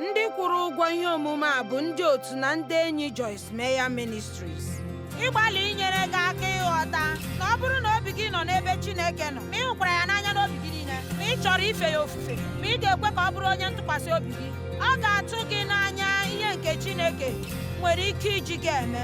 ndị kwụrụ ụgwọ ihe omume a bụ ndị otu na ndị enyi Joyce Meyer Ministries ịgbalị inyere gị aka ịghọta na ọ bụrụ na obi gị nọ n'ebe Chineke nọ ma ị hụkwara ya n'anya n'obi gị niile ma ị chọrọ ife ya ofufe ma ị ga-ekwe ka ọ bụrụ onye ntụkwasị obi gị ọ ga-atụ gị n'anya ihe nke Chineke nwere ike iji gị eme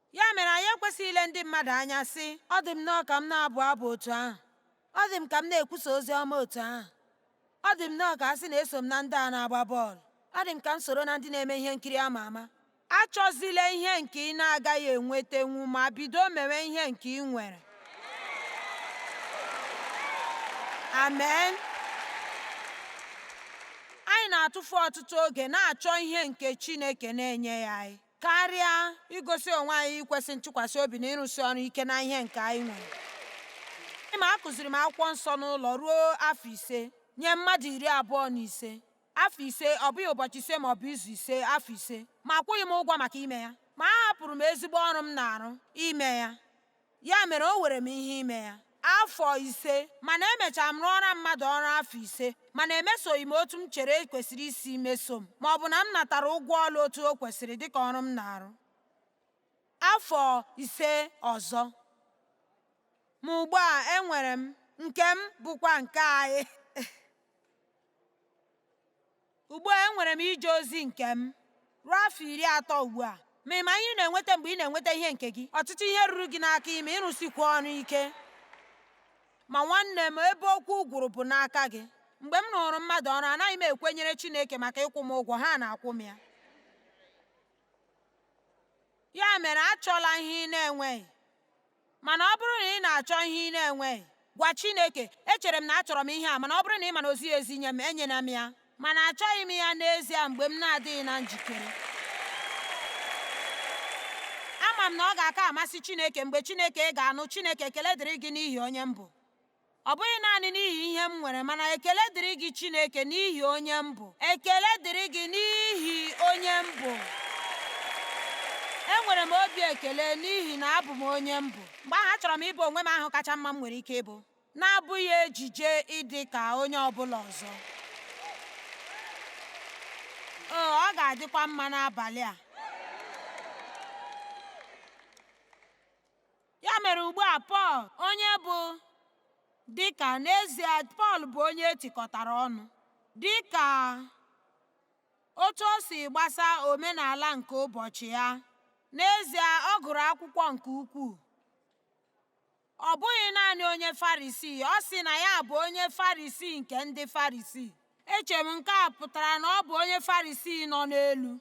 Ya mere anyị ekwesịghị ile ndị mmadụ anya sị ọ dị m nnọọ ka m na-abụ abụ otu ahụ ọ dị m ka m na-ekwusa ozi ọma otu ahụ ọ dị m nnọọ ka a sị na eso m na ndị a na-agba bọọlụ ọ dị m ka m soro na ndị na-eme ihe nkiri ama ama achọzila ihe nke ị na-agaghị enwetenwu ma bido mewe ihe nke ị nwere amen anyị na-atụfu ọtụtụ oge na-achọ ihe nke Chineke na-enyeghị anyị karịa igosi onwe anyị ikwesị ntụkwasị obi na ịrụsi ọrụ ike na ihe nke anyị nwere ị ma akụziri m akwụkwọ nsọ n'ụlọ ruo afọ ise nye mmadụ iri abụọ na ise afọ ise ọ bụghị ụbọchị ise ma ọ bụ izu ise afọ ise ma akwụghị m ụgwọ maka ime ya ma ahapụrụ m ezigbo ọrụ m na-arụ ime ya Ya mere o were m ihe ime ya afọ ise mana emechara m rụọra mmadụ ọrụ afọ ise mana emesoghị m otu m chere e kwesịrị isi meso m ma ọ bụ na m natara ụgwọ ọrụ otu o kwesịrị dịka ọrụ m na-arụ afọ ise ọzọ ma ugbu a enwere m nke m bụkwa nke anyị Ugbu a enwere m ije ozi nke m ruo afọ iri atọ ugbu a. Ma ị ma ihe ị na-enweta mgbe ị na-enweta ihe nke gị? Ọtụtụ ihe ruru gị n'aka ime, ịrụsikwu ọrụ ike. Ma nwanne m, ebe okwu gwụrụ bụ n'aka gị. Mgbe m rụụrụ mmadụ ọrụ, anaghị m ekwenyere Chineke maka ịkwụ m ụgwọ, ha na-akwụ m ya. Ya mere, achọla ihe ị na-enweghị. Mana ọ bụrụ na ị na-achọ ihe ị na-enweghị, gwa Chineke, Echere m na achọrọ m ihe a, mana ọ bụrụ na ị ma na o zighị ezi nye m, enyela m ya. Mana achọghị m ya n'ezie mgbe m na-adịghị na njikere. Ama m na ọ ga-aka amasị Chineke mgbe Chineke ga-anụ, Chineke, ekele dịrị gị n'ihi onye m bụ. Ọ bụghị naanị n'ihi ihe m nwere, mana ekele dịrị gị Chineke n'ihi onye m bụ. Ekele dịrị gị n'ihi onye m bụ. Enwere m obi ekele n'ihi na abụ m onye m bụ. Mgbe ahụ achọrọ m ịbụ onwe m ahụ kacha mma m nwere ike ịbụ, na-abụghị ejije ịdị ka onye ọ bụla ọzọ. O, ọ ga-adịkwa mma n'abalị a. Ya mere ugbu a Pọl onye bụ dịka n'ezie Pọl bụ onye etikọtara ọnụ dịka otu o si gbasa omenala nke ụbọchị ya n'ezie ọ gụrụ akwụkwọ nke ukwuu ọ bụghị naanị onye farisii ọ sị na ya bụ onye farisii nke ndị farisii eche m nke a pụtara na ọ bụ onye farisii nọ n'elu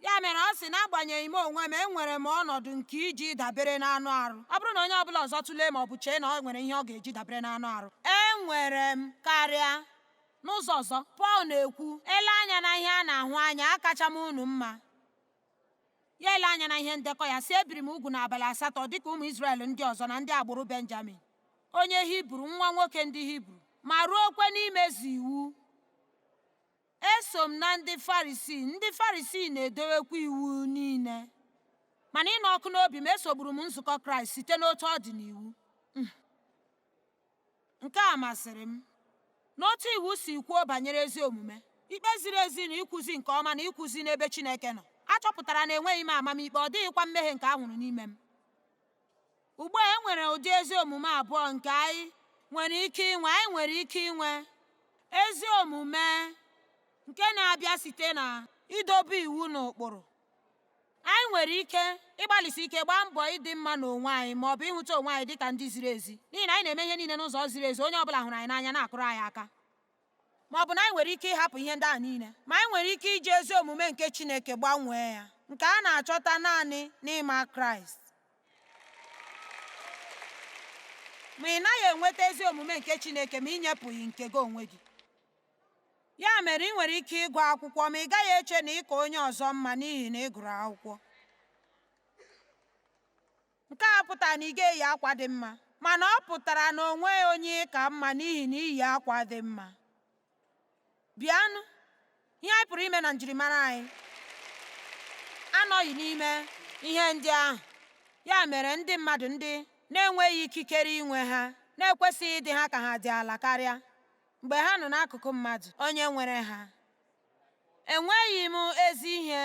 ya mere ọ sị n'agbanyeghị m onwe m enwere m ọnọdụ nke iji dabere n'anụ arụ ọ bụrụ na onye ọbụla ọzọ tụlee ma ọ bụ chee na ọ nwere ihe ọ ga-eji dabere n'anụ arụ enwere m karịa n'ụzọ ọzọ pọl na-ekwu e lee anya na ihe a na-ahụ anya akacha m unu mma ya ele anya na ihe ndekọ ya sị ebiri m ugwu n'abalị asatọ dịka ụmụ Izrel ndị ọzọ na ndị agbụrụ Benjamin onye Hibru nwa nwoke ndị Hibru ma ruokwe n'imezu iwu Eso m na ndị Farisii, ndị Farisii na-edowekwa iwu niile. Ma na ịnụ ọkụ n'obi m esogburu m nzukọ Kraịst site n'otu ọ dị n'iwu. Hmm. Nke a masịrị m. N'otu iwu si kwuo banyere ezi omume, ikpe ziri ezi na ịkwụzi nke ọma na ịkwụzi n'ebe Chineke nọ, a chọpụtara na enweghị m amamikpe, ọ dịghịkwa mmehie nke a hụrụ n'ime m. Ugbu a e nwere ụdị ezi omume abụọ nke anyị nwere ike inwe. Anyị nwere ike inwe ezi omume nke na-abịa site na idobe iwu na ụkpụrụ. Anyị nwere ike ịgbalịsi ike gbaa mbọ ịdị mma n'onwe anyị ma ọ bụ ịhụta onwe anyị dị ka ndị ziri ezi n'ihi na anyị na-eme ihe niile n'ụzọ ziri ezi, onye ọ bụla hụrụ anyị n'anya na-akụrụ anyị aka. ma ọ bụ na anyị nwere ike ịhapụ ihe ndị a niile ma anyị nwere ike iji ezi omume nke Chineke gbanwee ya nke a na-achọta naanị n'ịma Kraịst ma ị naghị enweta ezi omume nke Chineke ma ị nyepụghị nke gị onwe gị ya mere ị nwere ike ịgụ akwụkwọ ma ị gaghị eche na ị ka onye ọzọ mma n'ihi na ị gụrụ akwụkwọ Nke a pụtara na ị ga-eyi akwa dị mma, mana ọ pụtara na o nweghị onye ị ka mma n'ihi na i yi akwa dị mma. Bịanụ, ihe anyị pụrụ ime na njirimara anyị anọghị n'ime ihe ndị ahụ. Ya mere ndị mmadụ ndị na-enweghị ikikere inwe ha na-ekwesịghị ịdị ha ka ha dị ala karịa mgbe ha nọ n'akụkụ mmadụ onye nwere ha. Enweghị m ezi ihe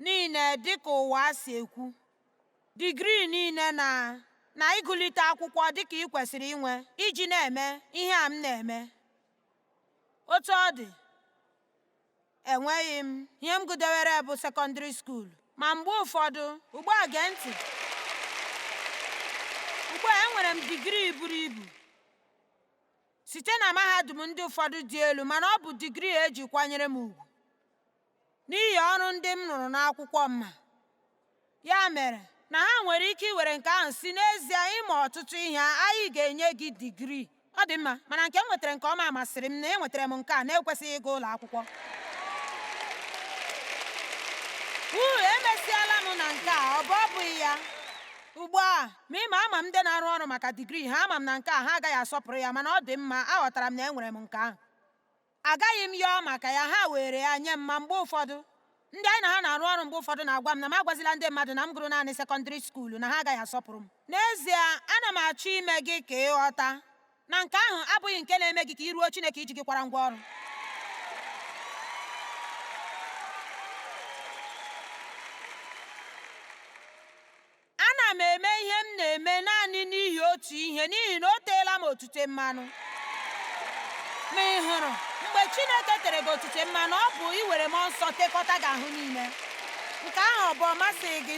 niile dịka ụwa si ekwu, digrii niile na ịgụlite akwụkwọ dịka ị kwesịrị inwe iji na-eme ihe a m na-eme. Otu ọ dị, enweghị m ihe m gụdewere bụ sekọndịrị skuul ma mgbe ụfọdụ ugbu a gee ntị ugbu a enwere m digrii buru ibu site na mahadum ndị ụfọdụ dị elu mana ọ bụ digrii eji kwanyere m ugwu N'ihi ọrụ ndị m rụrụ n'akwụkwọ m ma, ya mere na ha nwere ike iwere nke ahụ sị n'ezie ị ma ọtụtụ ihe anyị ga-enye gị digrii ọ dị mma mana nke m nwetara nke ọma masịrị m na enwetara m nke a na-ekwesịghị ịga ụlọ akwụkwọ uu emesiala m na nke a ọ bụ ọ bụghị ya ugbu a ma ị ma ama m ndị na-arụ ọrụ maka digrii ha ama m na nke a ha agaghị asọpụrụ ya mana ọ dị mma aghọtara m na enwere m nke ahụ agaghị m yọọ maka ya ha were ya nye m ma mgbe ụfọdụ ndị anyị na ha na-arụ ọrụ mgbe ụfọdụ na-agwa m na m agwazila ndị mmadụ na m gụrụ naanị sekọndịrị skuulu na ha agaghị asọpụrụ m n'ezie ana m achọ ime gị ka ị ghọta na nke ahụ abụghị nke na-eme gị ka i ruo Chineke iji gị kwara ngwa ọrụ ana m eme ihe m na-eme naanị n'ihi otu ihe n'ihi na o teela m otute mmanụ ma ị hụrụ mgbe chineke tere gị otute mmanụ ọ bụ iwere mmụọ nsọ tekọta gị ahụ niile nke ahụ ọ bụ ọ masịghị gị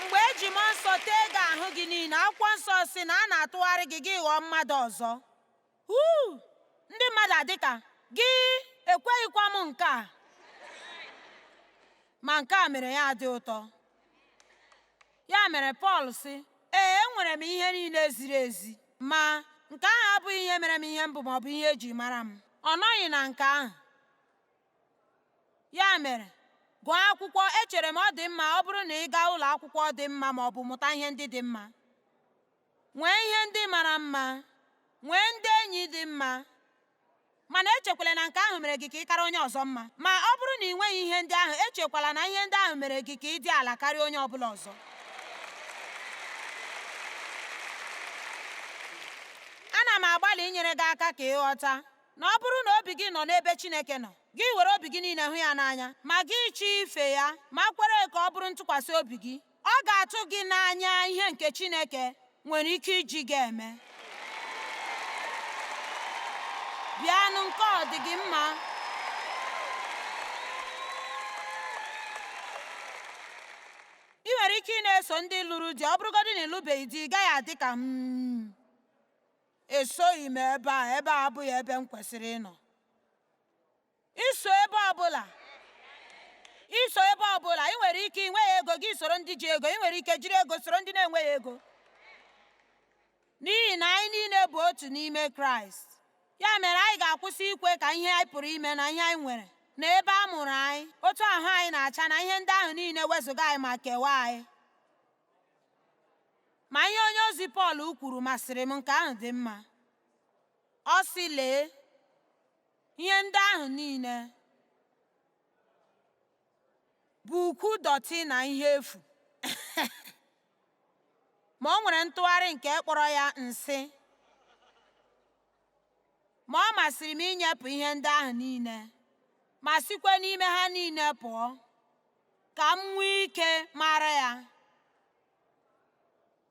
mgbe eji mmụọ nsọ tee gị ahụ gị niile akwụkwọ nsọ sị na a na-atụgharị gị gị ghọọ mmadụ ọzọ Uu, ndị mmadụ dị ka gị ekweghịkwa m nke a. Ma nke a mere ya dị ụtọ. Ya mere Pọl sị, Ee, enwere m ihe niile ziri ezi, ma nke ahụ abụghị ihe mere m ihe m bụ ma ọ bụ ihe eji mara m. Ọ nọghị na nke ahụ. Ya mere, gụọ akwụkwọ, echere m ọ dị mma ọ bụrụ na ị gaa ụlọ akwụkwọ dị mma ma ọ bụ mụta ihe ndị dị mma. nwee ihe ndị mara mma nwee ndị enyi dị mma mana echekwala na nke ahụ mere gị ka ị kara onye ọzọ mma ma ọ bụrụ na ị nweghị ihe ndị ahụ echekwala na ihe ndị ahụ mere gị ka ị dị ala karịa onye ọ bụla ọzọ ana m agbalị inyere gị aka ka ị ghọta na ọ bụrụ na obi gị nọ n'ebe Chineke nọ gị were obi gị niile hụ ya n'anya ma gị chọọ ife ya ma kwere ka ọ bụrụ ntụkwasị obi gị Ọ ga-atụ gị n'anya ihe nke Chineke nwere ike iji gị eme. Bịanụ nke ọ dị gị mma. Ị nwere ike ị na-eso ndị lụrụ di ọ bụrụgodị na ị lụbeghị di ị gaghị adị ka m hmm, esoghị m ebe a ebe a abụghị ebe m kwesịrị ịnọ. I so ebe ọbụla i so ebe ọbụla ị nwere ike ị nweghị ego gị soro ndị ji ego ị nwere ike jiri ego soro ndị na-enweghị ego n'ihi na anyị niile bụ otu n'ime Kraịst ya mere anyị ga-akwụsị ikwe ka ihe anyị pụrụ ime na ihe anyị nwere na ebe a mụrụ anyị otu ahụ anyị na-acha na ihe ndị ahụ niile wezụga anyị ma kewaa anyị ma ihe onye ozi Pọl kwuru masịrị m nke ahụ dị mma ọ sị lee Ihe ndị ahụ niile bụ ukwu dọtị na ihe efu. Ma o nwere ntụgharị nke kpọrọ ya nsị. Ma ọ masịrị m inyepụ ihe ndị ahụ niile ma sikwa n'ime ha niile pụọ ka m nwee ike mara ya.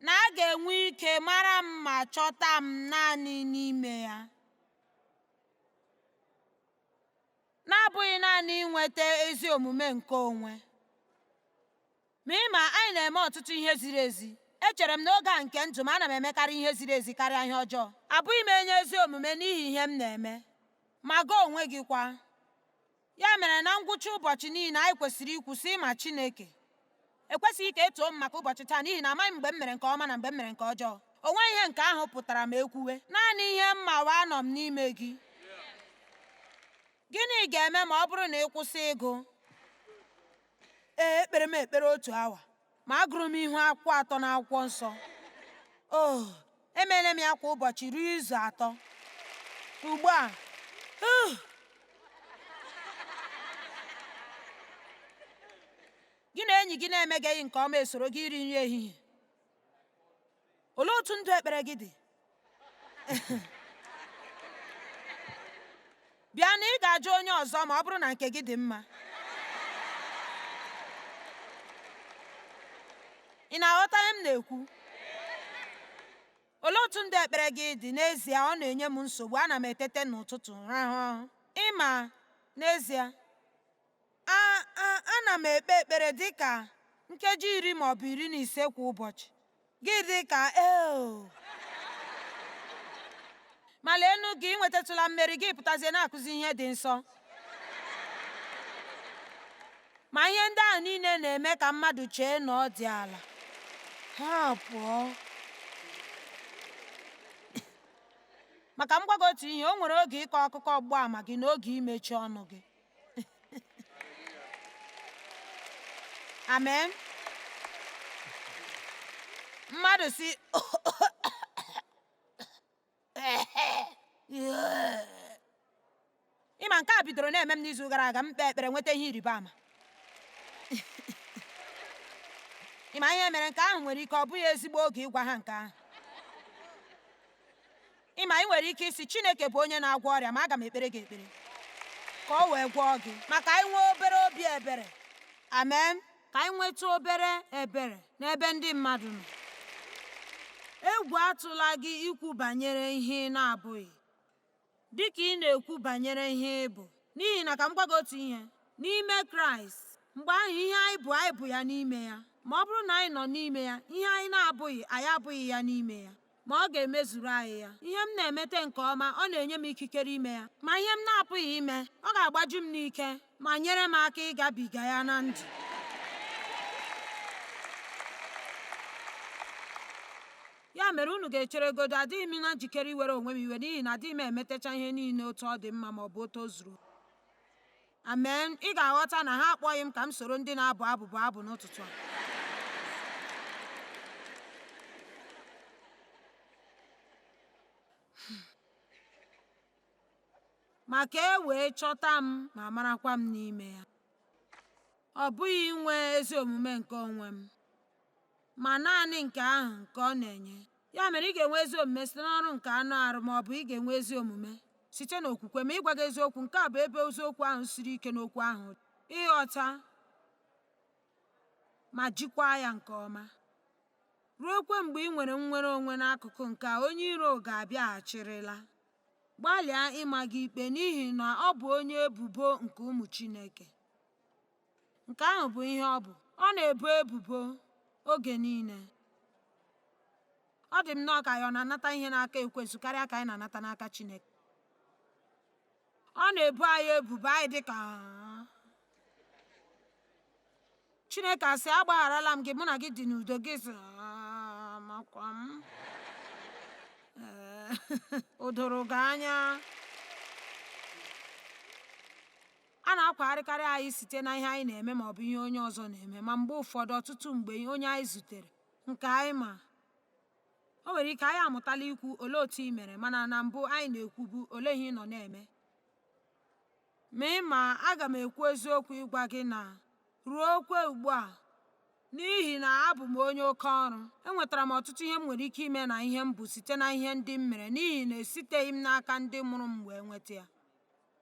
na a ga-enwe ike mara m ma chọta m naanị n'ime ya. na-abụghị naanị inweta ezi omume nke onwe ma ị ma anyị na-eme ọtụtụ ihe ziri ezi echere m n'oge a nke ndụ m ana m emekarị ihe ziri ezi karịa ihe ọjọọ abụghị m onye ezi omume n'ihi ihe m na-eme ma gị onwe gị kwa ya mere na ngwụcha ụbọchị niile anyị kwesịrị ikwu sị ị ma Chineke ekwesịghị ka e too m maka ụbọchị taa n'ihi na amaghị m mgbe m mere nke ọma na mgbe m mere nke ọjọọ o nweghị ihe nke ahụ pụtara ma e kwuwe naanị ihe m ma wụ anọ m n'ime gị gịnị ga-eme ma ọ bụrụ na ị kwụsị ịgụ ee ekpere m ekpere otu awa ma agụrụ m ihu akwụkwọ atọ n'akwụkwọ nsọ o oh, emeela m ya kwa ụbọchị ruo izu atọ ugbu a uh, gị na enyi gị na-emegeghị nke ọma esoro gị iri nri ehihie olee otu ndụ ekpere gị dị bịa na ị ga-ajụ onye ọzọ ma ọ bụrụ na nke gị dị mma ị na-aghọta ihe m na-ekwu olee otu ndụ ekpere gị dị n'ezie ọ na-enye m nsogbu ana m etete n'ụtụtụ rahụ ị ma n'ezie A A ana m ekpe ekpere dị ka nkeji iri ma ọ bụ iri na ise kwa ụbọchị. Gị dị ka eo. Ma leenụ gị, i nwetatụla mmeri, gị pụtazie na-akụzi ihe dị nsọ. Ma ihe ndị ahụ niile na-eme ka mmadụ chee na ọ dị ala. Ha pụọ. maka m gwa gị otu ihe o nwere oge ịkọ akụkọ ọgbụgba ama gị na oge imechi ọnụ gị amen mmadụ sị ị ma nke a bidoro na-eme m n'izu gara aga m kpee ekpere nweta ihe ịrịba ama ị ma ihe mere nke ahụ nwere ike ọ bụghị ezigbo oge ịgwa ha nke ahụ Ịma anyị nwere ike ịsị Chineke bụ onye na-agwọ ọrịa ma aga m ekpere gị ekpere ka ọ wee gwọọ gị ma ka anyị nwee obere obi ebere amen ka anyị nwetụ obere ebere n'ebe ndị mmadụ nọ egwu atụla gị ikwu banyere ihe ị na-abụghị dị ka ị na-ekwu banyere ihe ị bụ n'ihi na ka m gwa gị otu ihe n'ime kraịst mgbe ahụ ihe anyị bụ anyị bụ ya n'ime ya ma ọ bụrụ na anyị nọ n'ime ya ihe anyị na-abụghị anyị abụghị ya n'ime ya ma ọ ga-emezuru anyị ya. Ihe m na-emete nke ọma, ọ na-enye m ikikere ime ya. Ma ihe m na-apụghị ime, ọ ga-agbaju m n'ike ma nyere m aka ịgabiga ya na ndụ. Ya mere unu ga-echeregodo, adịghị m na njikere iwere onwe m iwe n'ihi na adịghị m emetecha ihe niile otu ọ dị mma ma ọ bụ otu o zuru Amen. Ị ga-aghọta na ha akpọghị m ka m soro ndị na-abụ abụ bụọ abụ n'ụtụtụ a. Ma ka e wee chọta m ma marakwa m n'ime ya. Ọ bụghị inwe ezi omume nke onwe m, ma naanị nke ahụ nke ọ na-enye. ya mere ị ga-enwe ezi omume site n'ọrụ nke anụ arụ ma ọ bụ ị ga-enwe ezi omume site n'okwukwe ma ịgwa gị eziokwu nke a bụ ebe eziokwu ahụ siri ike n'okwu ahụ ịghọta ma jikwaa ya nke ọma ruokwe mgbe ị nwere nnwere onwe n'akụkụ nke a onye iro ga-abịaghachirịla gbalịa ịma gị ikpe n'ihi na ọ bụ onye ebubo nke ụmụ Chineke. Nke ahụ bụ ihe ọ bụ. Ọ na-ebo ebubo oge niile. Ọ dị m nnọọ ka ya ọ na-anata ihe n'aka ekwensu karịa ka anyị na-anata n'aka Chineke. Ọ na-ebo anyị ebubo anyị dị ka Chineke asị agbagharala m gị mụ na gị dị n'udo gị sị makwa m o doro gị anya A na-akwagharịkarị anyị site na ihe anyị na-eme ma ọ bụ ihe onye ọzọ na-eme, ma mgbe ụfọdụ ọtụtụ mgbe onye anyị zutere, nke anyị ma. O nwere ike anyị amụtala ikwu olee otu ị mere mana na mbụ anyị na-ekwubu olee ihe ị nọ na-eme. Ma ị ma aga m ekwu eziokwu ịgwa gị na ruokwe ugbu a n'ihi na abụ m onye oke ọrụ enwetara m ọtụtụ ihe m nwere ike ime na ihe m bụ site na ihe ndị m mere n'ihi na esiteghị m n'aka ndị mụrụ m wee nweta ya.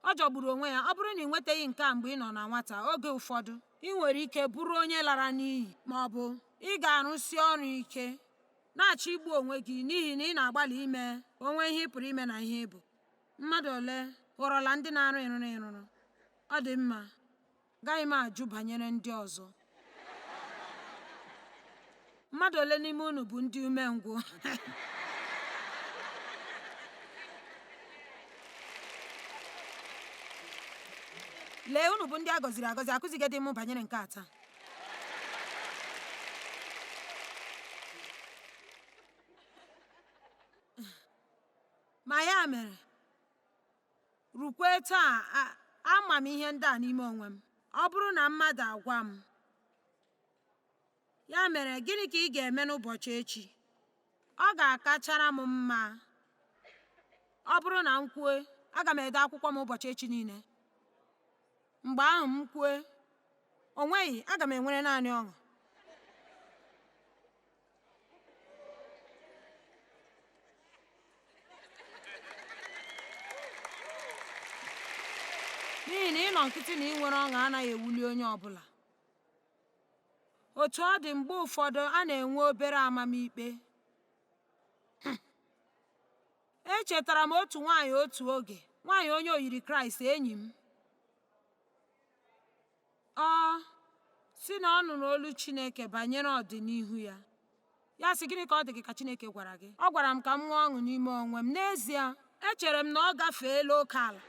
Ọ jọgburu onwe ya, ọ bụrụ na ị nwetaghị nke a mgbe ị nọ na nwata, oge ụfọdụ ị nwere ike bụrụ onye lara n'iyi ma ọ bụ ị ga-arụsi ọrụ ike na-achọ igbu onwe gị n'ihi na ị na-agbalị ime o nwee ihe ị pụrụ ime na ihe ị bụ. Mmadụ ole ghọrọla ndị na-arụ ịrụrụ ịrụrụ? Ọ dị mma. Gaghị m ajụ banyere ndị ọzọ. Mmadụ ole n'ime unu bụ ndị umengwụ? Lee, unu bụ ndị a gọziri agọzi, akụzighị m banyere nke a taa. Ma ya mere, Rukwe taa, ama m ihe ndị a n'ime onwe m. Ọ bụrụ na mmadụ agwa m, ya mere gịnị ka ị ga-eme n'ụbọchị echi? Ọ ga-akachara m mma ọ bụrụ na m kwue aga m ede akwụkwọ m ụbọchị echi niile. Mgbe ahụ m kwue, o nweghị aga m enwere naanị ọṅụ. n'ihi na ịnọ nkịtị na inwere ọṅụ anaghị ewuli onye ọ bụla otu ọ dị mgbe ụfọdụ a na-enwe obere amamikpe echetara m otu nwaanyị otu oge nwaanyị onye oyiri kraịst enyi m Ọ sị na ọ nụrụ olu Chineke banyere ọdịnihu ya. Ya sị, Gịnị ka ọ dị gị ka Chineke gwara gị? Ọ gwara m ka m nwee ọṅụ n'ime onwe m. N'ezie, echere m na ọ gafeela oke ala.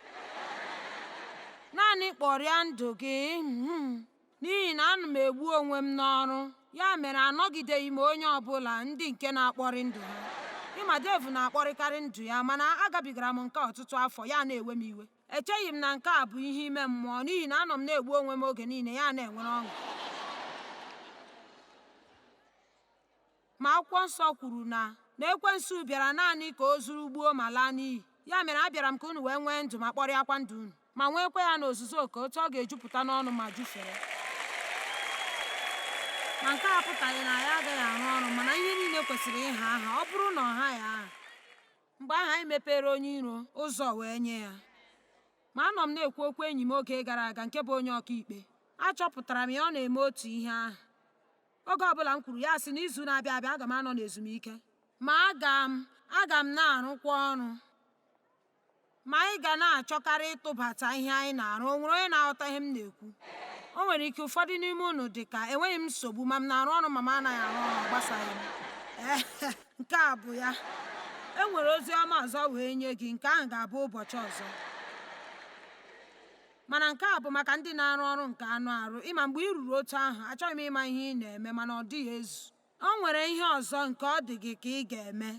Naanị kpọrịa ndụ gị hmm, n'ihi na ana m egbu onwe m n'ọrụ. Ya mere anọgideghị m onye ọ bụla ndị nke na-akpọrị ndụ ha. Ị ma Dave na-akpọrịkarị ndụ ya mana agabigara m nke ọtụtụ afọ ya na-ewe m iwe. echeghị m na nke a bụ ihe ime mmụọ n'ihi na anọ m na-egbu onwe m oge niile ya na-enwere ọṅụ ma akwụkwọ nsọ kwuru na na ekwensu bịara naanị ka o zuru gbuo ma laa n'iyi ya mere abịara m ka unu wee nwee ndụ ma kpọrịakwa ndụ unu ma nweekwa ya n'ozuzu oke otu ọ ga-ejupụta n'ọnụ ma jufere ma nke a apụtaghị na ya agaghị arụ ọrụ mana ihe niile kwesịrị ịha aha ọ bụrụ na ọ haghị aha mgbe ahụ anyị mepere onye iro ụzọ wee nye ya ma anọ m na-ekwu okwu enyi m oge gara aga nke bụ onye ọkaikpe achọpụtara m ya ọ na-eme otu ihe ahụ oge ọbụla m kwuru ya sị n'izu na-abịa abịa aga m anọ n'ezumike ma aga m aga m na-arụkwa ọrụ ma anyị ga na-achọkarị ịtụbata ihe anyị na-arụ o nwere onye na-aghọta ihe m na-ekwu o nwere ike ụfọdụ n'ime unu dị ka enweghị m nsogbu ma m na-arụ ọrụ ma m anaghị arụ ọrụ gbasaghị m nke a bụ ya e nwere ozi ọma ọzọ wee nye gị nke ahụ ga-abụ ụbọchị ọzọ mana nke a bụ maka ndị na-arụ ọrụ nke anụ arụ ị ma mgbe i ruru otu ahụ achọghị m ịma ihe ị na-eme mana ọ dịghị ezu o nwere ihe ọzọ nke ọ dị gị ka ị ga-eme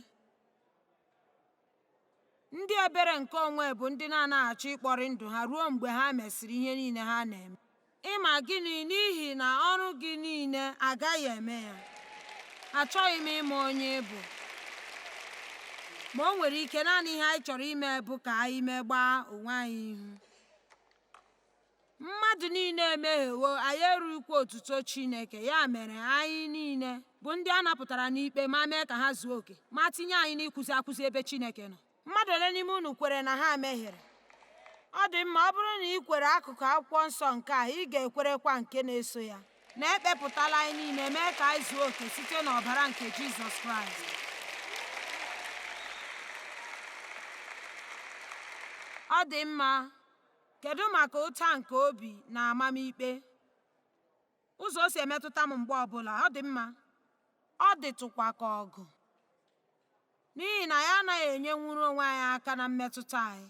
Ndị ebere nke onwe bụ ndị na-anaghị achọ ịkpọrị ndụ ha ruo mgbe ha mesịrị ihe niile ha na-eme. Ịma gịnị? N'ihi na ọrụ gị niile agaghị eme ya. Achọghị m ịma onye ị bụ. Ma o nwere ike naanị ihe anyị chọrọ ime bụ ka anyị megbaa onwe anyị ihu. Mmadụ niile emehiewo, anyị erughịkwa otuto Chineke. Ya mere, anyị niile bụ ndị a napụtara n'ikpe ma mee ka ha zuo oke, ma tinye anyị n'ịkwụzi akwụzi ebe Chineke nọ. Mmadụ ole n'ime unu kwere na ha mehiere? Ọ dị mma, ọ bụrụ na ị kwere akụkụ akwụkwọ nsọ nke a, ị ga-ekwerekwa nke na-eso ya na ekpepụtala anyị niile mee ka anyị zuo oke site n'ọbara nke Jizọs Kraịst. Ọ dị mma, Kedu maka ụta nke obi na amamikpe? Ụzọ o si emetụta m mgbe ọbụla, ọ dị mma, ọ dịtụkwa ka ọgụ. N'ihi na anyị anaghị enyenwuru onwe anyị aka na mmetụta anyị.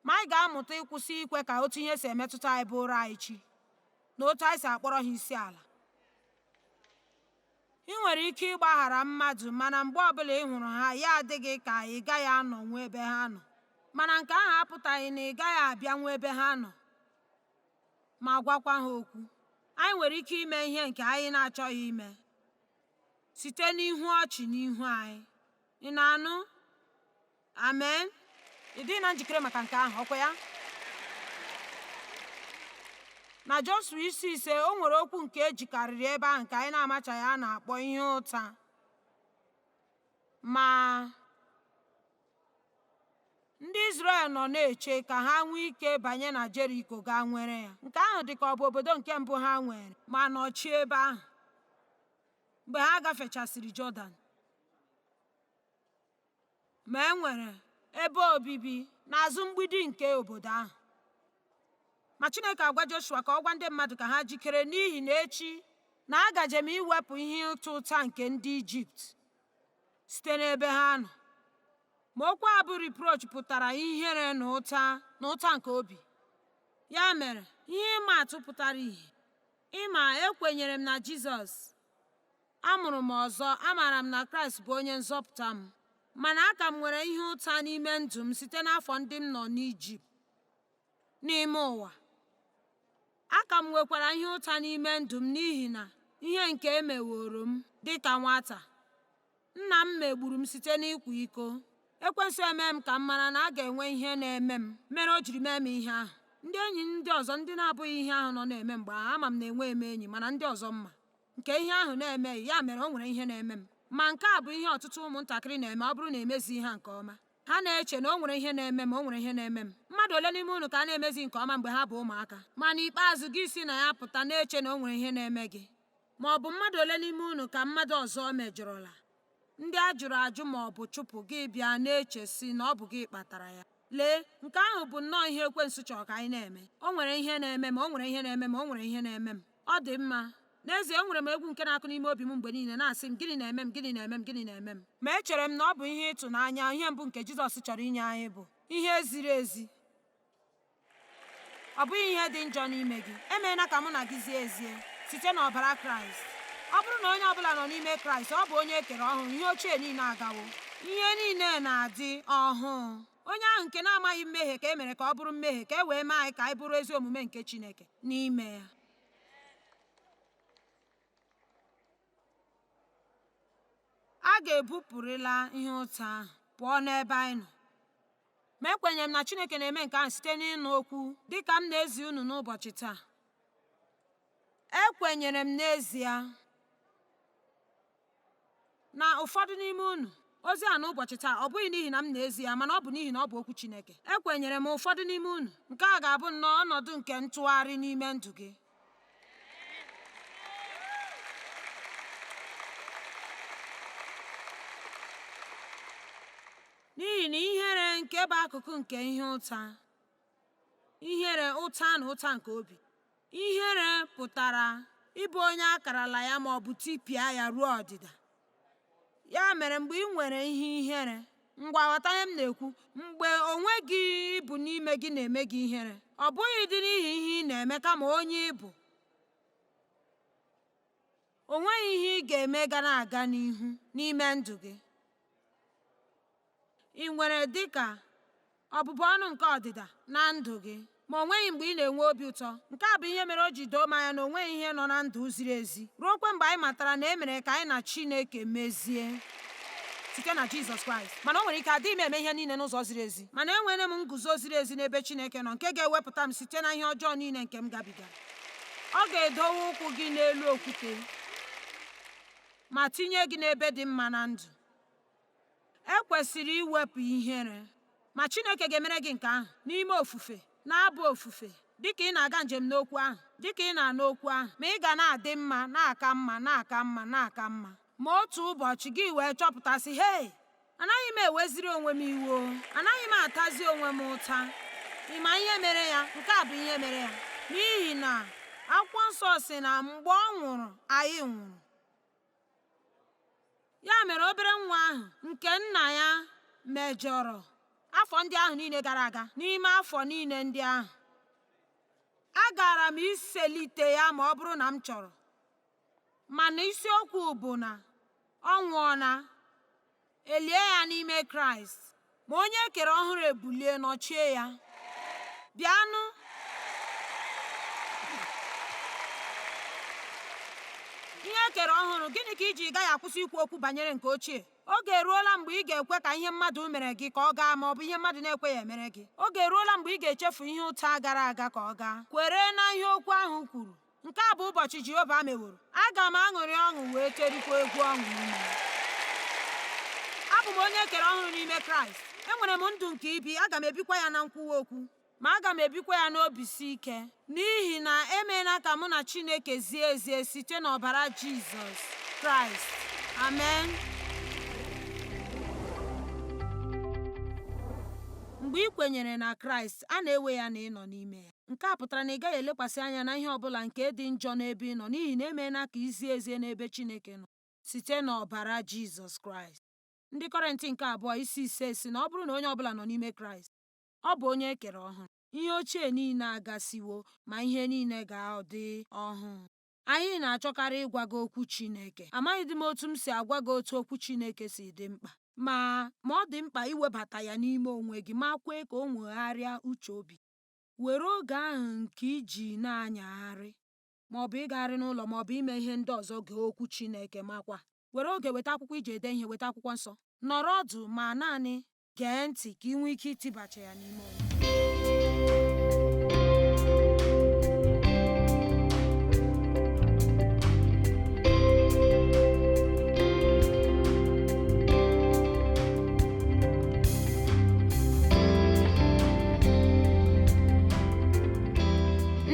Ma anyị ga-amụta ịkwụsị ikwe ka otu ihe si emetụta anyị bụụrụ anyị chi na otu anyị si akpọrọ ha isi ala. I nwere ike ịgbaghara mmadụ mana mgbe ọbụla ị hụrụ ha ya adị gị ka ị gaghị anọnwu ebe ha nọ mana nke ahụ apụtaghị na ị gaghị abịanwu ebe ha nọ ma gwakwa ha okwu. Anyị nwere ike ime ihe nke anyị na-achọghị ime site n'ihu ọchị n'ihu anyị. Ị na-anụ? amen ị dị na njikere maka nke ahụ ọkwa ya na Joshua isi ise o nwere okwu nke ejikarịrị ebe ahụ nke anyị na-amachaghị a na-akpọ ihe ụta ma ndị Izrel nọ na-eche ka ha nwee ike banye na Jeriko gaa nwere ya nke ahụ dị ka ọ bụ obodo nke mbụ ha nwere ma nọchie ebe ahụ mgbe ha gafechasịrị Jọdan Ma e nwere ebe obibi n'azụ mgbidi nke obodo ahụ. Ma Chineke agwa Joshua ka ọ gwa ndị mmadụ ka ha jikere n'ihi na echi na agaje m iwepụ ihe ịta ụta nke ndị Ijipt site n'ebe ha nọ. Ma okwu a bụ reproach pụtara ihere na ụta na ụta nke obi. Ya mere, ihe ịma atụ pụtara ihe. Ịma, ekwenyere m na Jizọs Amụrụ m ọzọ, amaara m na Kraịst bụ onye nzọpụta m. Mana aka m nwere ihe ụta n'ime ndụ m site n'afọ ndị m nọ n'Ijipt n'ime ụwa. Aka m nwekwara ihe ụta n'ime ndụ m n'ihi na ihe nke e meworo m dị ka nwata. Nna m megburu m site n'ịkwa iko. Ekwensu eme m ka m mara na a ga-enwe ihe na-eme m mere o jiri mee m ihe ahụ. Ndị enyi ndị ọzọ ndị na-abụghị ihe ahụ nọ na-eme mgbe ahụ, ama m na enweghị m enyi, mana ndị ọzọ mma. nke ihe ahụ na-emeghị ya mere o nwere ihe na-eme m ma nke a bụ ihe ọtụtụ ụmụntakịrị na-eme ọ bụrụ na emezi ha nke ọma ha na-eche na o nwere ihe na-eme m o nwere ihe na-eme m mmadụ ole n'ime unu ka a na-emezi nke ọma mgbe ha bụ ụmụaka ma n'ikpeazụ gị si na ya pụta na-eche na o nwere ihe na-eme gị ma ọ bụ mmadụ ole n'ime unu ka mmadụ ọzọ mejọrọla ndị a jụrụ ajụ ma ọ bụ chụpụ gị bịa na-eche sị na ọ bụ gị kpatara ya lee nke ahụ bụ nnọọ ihe ekwensu chọrọ ka anyị na-eme o nwere ihe na-eme m o nwere ihe na-eme m o nwere ihe na-eme m ọ dị mma n'ezie enwere m egwu nke na-akụ n'ime obi m mgbe niile na-asị m gịnị na-eme m gịnị na-eme m gịnị na-eme m ma echere m na ọ bụ ihe ịtụnanya ihe mbụ nke Jizọs chọrọ inye anyị bụ ihe ziri ezi ọ bụghị ihe dị njọ n'ime gị e meela ka mụ na gị zie ezie site n'ọbara kraịst ọ bụrụ na onye ọbụla nọ n'ime kraịst ọ bụ onye e kere ọhụrụ ihe ochie niile agawo ihe niile na-adị ọhụụ onye ahụ nke na-amaghị mmehie ka e mere ka ọ bụrụ mmehie ka e wee mee anyị ka anyị bụrụ ezi omume nke chineke n'ime ya a ga-ebupụrịla ihe ụta ahụ pụọ n'ebe anyị nọ Ma ekwenyere m na Chineke na-eme nke ahụ site n'ịnụ okwu dị ka m na-ezi unu n'ụbọchị taa. Ekwenyere m n'ezie na ụfọdụ n'ime unu ozi a n'ụbọchị taa ọ bụghị n'ihi na m na-ezi ya mana ọ bụ n'ihi na ọ bụ okwu Chineke ekwenyere m ụfọdụ n'ime unu nke a ga-abụ nnọọ ọnọdụ nke ntụgharị n'ime ndụ gị N'ihi na ihere nke bụ akụkụ nke ihe ụta, ihere ụta na ụta nke obi, ihere pụtara ịbụ onye a karala ya ma ọ bụ tipịa ya ruo ọdịda. Ya mere mgbe i nwere ihe ihere, ngwa ghọta ihe m na-ekwu, mgbe onwe gị ị bụ n'ime gị na-eme gị ihere, ọ bụghị dị n'ihi ihe ị na-eme kama onye ị bụ. O nweghị ihe ị ga-eme ga na-aga n'ihu n'ime ndụ gị. I nwere dị ka ọbụbụ ọnụ nke ọdịda na ndụ gị, ma o nweghị mgbe ị na-enwe obi ụtọ. Nke a bụ ihe mere o ji doo m anya na o nweghị ihe nọ na ndụ ziri ezi ruokwa mgbe anyị matara na e mere ka anyị na Chineke mezie site na Jizọs Kraịst. Mana o nwere ike adịghị m eme ihe niile n'ụzọ ziri ezi, mana enwere m nguzo ziri ezi n'ebe Chineke nọ nke ga-ewepụta m site na ihe ọjọọ niile nke m gabiga. ọ ga-edowe ụkwụ gị n'elu okwute ma tinye gị n'ebe dị mma na ndụ e kwesịrị iwepụ ihere ma Chineke ga-emere gị nke ahụ n'ime ofufe na-abụ ofufe dịka ị na-aga njem n'okwu ahụ dịka ị na-anụ okwu ahụ ma ị ga na-adị mma na-aka mma na-aka mma na-aka mma ma otu ụbọchị gị wee chọpụta sị hei anaghị m eweziri onwe m iwe anaghị m atazi onwe m ụta ị ma ihe mere ya nke a bụ ihe mere ya n'ihi na akwụkwọ nsọ sị na mgbe ọ nwụrụ anyị nwụrụ ya mere obere nwa ahụ nke nna ya mejọrọ afọ ndị ahụ niile gara aga n'ime afọ niile ndị ahụ agara m iselite ya ma ọ bụrụ na m chọrọ mana isiokwu bụ na ọ nwụọla elie ya n'ime kraịst ma onye e kere ọhụrụ ebulie nọchie ya bịanụ ihe e kere ọhụrụ gịnị ka i ji gaghị akwụsị ikwu okwu banyere nke ochie oge eruola mgbe ị ga-ekwe ka ihe mmadụ mere gị ka ọ gaa ma ọ bụ ihe mmadụ na-ekweghị emere gị oge eruola mgbe ị ga-echefu ihe ụta gara aga ka ọ gaa kwere na ihe okwu ahụ kwuru nke a bụ ụbọchị Jehova meworo aga m aṅụrị ọṅụ wee terikwa egwu ọṅụ n'ime ya abụ m onye e kere ọhụrụ n'ime Kraịst enwere m ndụ nke ibi aga m ebikwa ya na nkwuwa okwu ma aga m ebikwa ya n'obi si ike n'ihi na emeela ka mụ na Chineke zie ezie site n'ọbara Jizọs Kraịst amen mgbe ị kwenyere na Kraịst a na-ewe ya na ị nọ n'ime ya Nke a pụtara na ị gaghị elekwasị anya na ihe ọ bụla nke dị njọ n'ebe ị nọ n'ihi na emeela ka i zie ezie n'ebe Chineke nọ site n'ọbara Jizọs Kraịst. Ndị Kọrịnt nke abụọ isi ise sị na ọ bụrụ na onye ọ bụla nọ n'ime Kraịst, ọ bụ onye e kere ọhụrụ. Ihe ochie niile agasịwo, ma ihe niile ga-adị ọhụụ. Anyị na-achọkarị ịgwa gị okwu Chineke. Amaghịdị m otu m si agwa gị otu okwu Chineke si dị mkpa. Ma, ma ọ dị mkpa iwebata ya n'ime onwe gị ma kwee ka o nwegharịa uche obi. were oge ahụ nke i ji na-anyagharị maọbụ ịgagharị n'ụlọ maọbụ ime ihe ndị ọzọ gee okwu Chineke makwa were oge weta akwụkwọ iji ede ihe weta akwụkwọ nsọ nọrọ ọdụ ma naanị gee ntị ka ị nwee ike itibacha ya n'ime onwe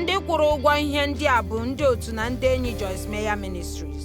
ndị kwụrụ ụgwọ ihe ndị a bụ ndị otu na ndị enyi Joyce Meyer Ministries